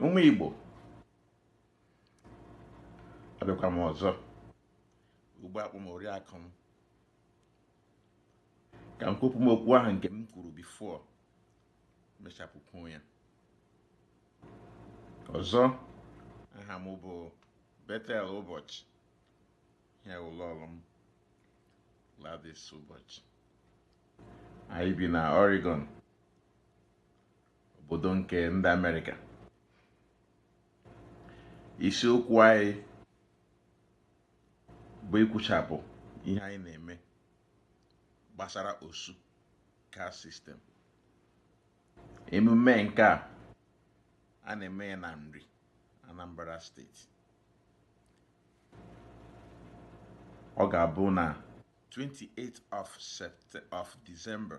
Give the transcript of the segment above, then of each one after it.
ụmụ Igbo abịakwa m ọzọ ugbua akpọ m oriakụ m ka m kwupụ m okwu ahụ nke m kwuru before mechapụkwu ya ọzọ aha m bụ Bethel Ụbọchị ya lọlọ m Gladys Ụbọchị anyị bi na Oregon obodo nke ndị Amerịka isiokwu anyị bụ ikwuchapụ ihe anyị na-eme gbasara osu caste system emume nke a a na-eme ya na Nri Anambra steeti ọ ga-abụ na 28th of December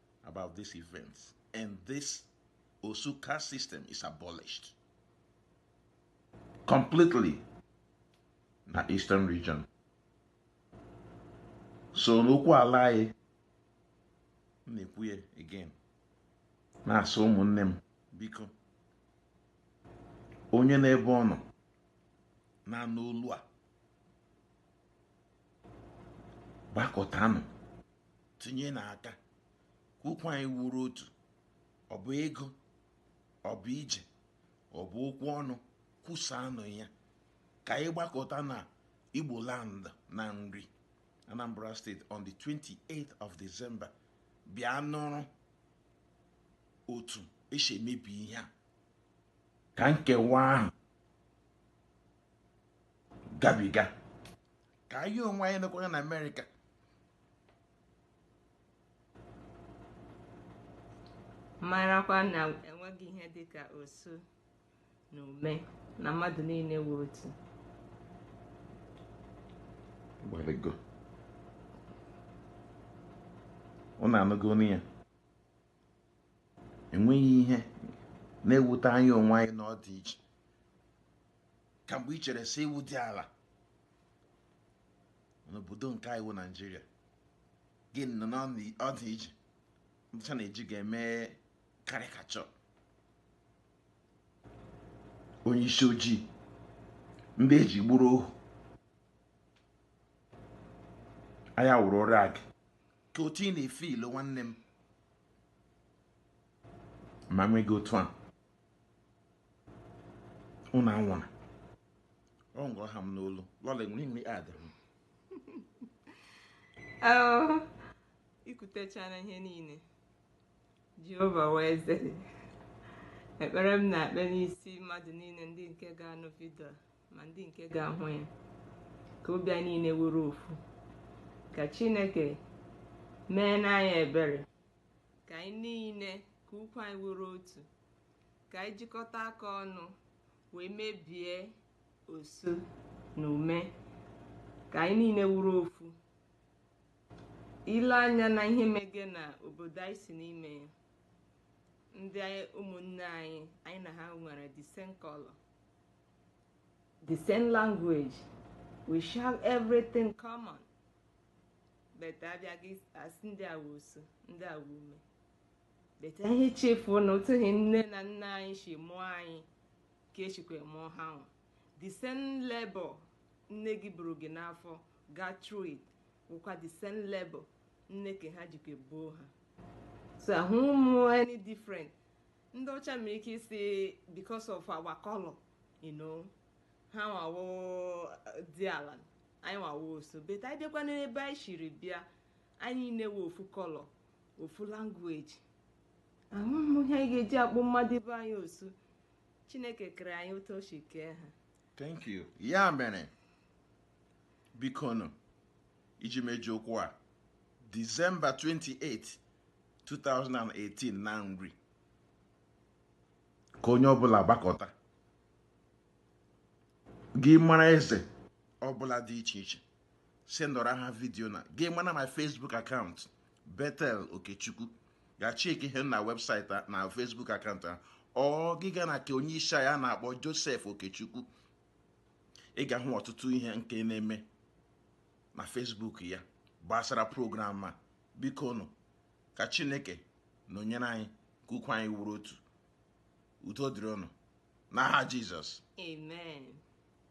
about this event and this Osu caste system is abolished completely na Eastern region. So n'okwu ala anyị na-ekwu ya again na-asị ụmụnne m biko onye n'ebe ọ nọ na-anụ olu a gbakọtanụ tinyenụ aka ka okwu anyị wụrụ otu ọ bụ ego ọ bụ ije ọ bụ okwu ọnụ kwusaanụ ya ka anyị gbakọta na igbo land na nri anambra state on the 28th of december bịa nụrụ otu esi emebi ihe a ka nkewa ahụ gabiga ka anyị onwe anyị nọkwara na amerịka marakwa na enweghị ihe dịka osu na ume na mmadụ niile wụ otu gbalịgo ụnụ anụgo ọnụ ya enweghị ihe na-ewute anyị onwe anyị na ọ dị iche ka mgbe i chere sị ị wụ diala n'obodo nke anyị wụ naijiria gị nọ n'ụdị ihe ndị ọcha na-eji gị eme karịkacha onye isi ojii ndị eji gburu ohu anyị wụrụ rag ka otu ị na-efe ilo nwanne m ma nweghị otu a ụnụ anwụrụ ọ ngụrụ ha m n'olu lọla enwere nri adịrị m oh, ikwutechana ihe niile jehova wee zere ekpere m na-ekpe n'isi mmadụ niile ndị nke ga-anụ vidio ma ndị nke ga-ahụ ya ka obi anyị niile wụrụ ofu ka chineke meere anyị ebere ka anyị niile ka okwu anyị wụrụ otu ka anyị jikọta aka ọnụ wee mebie osu na ume ka anyị niile wụrụ ofu i lee anya na ihe mege na obodo anyị si n'ime ya ndị ụmụnne anyị anyị na ha nwere the same color the same language we share everything common but a bịa a sị ndị a wụ osu ndị a wụ ume but ha echefuo na otu ahụ nne na nna anyị si mụọ anyị ka e shikwa mụọ ha nwa the same labor nne gị buru gị n'afọ gaa through it wụkwa the same labor nne ke ha jikwa buo ha so ahụhụ m any different ndị ọcha nwere ike ịsị because of our color you know ha nwa wụ diala anyị nwa wụ osu but anyị bịakwa n'ebe anyị shiri bịa anyị nwere ofu color ofu language ahụhụ m ihe anyị ga-eji akpọ mmadụ ibe anyị osu chineke kere anyị otu o si kee ha thank you ya mere biko nụ iji mechie okwu a December 28 2018 na nri ka onye ọbụla gbakọta gị mara eze ọbụla dị iche iche sendara ha vidiyo na gị mara my Facebook account Bethel Okechukwu gaa checkie ihe na website na Facebook account a or gị gaa na ke onye isi ya a na-akpọ Joseph Okechukwu ị ga-ahụ ọtụtụ ihe nke na-eme na Facebook ya gbasara program a biko nụ ka Chineke nọnyere anyị ka okwu anyị wụrụ otu udo dịrị unu n'aha Jizọs amen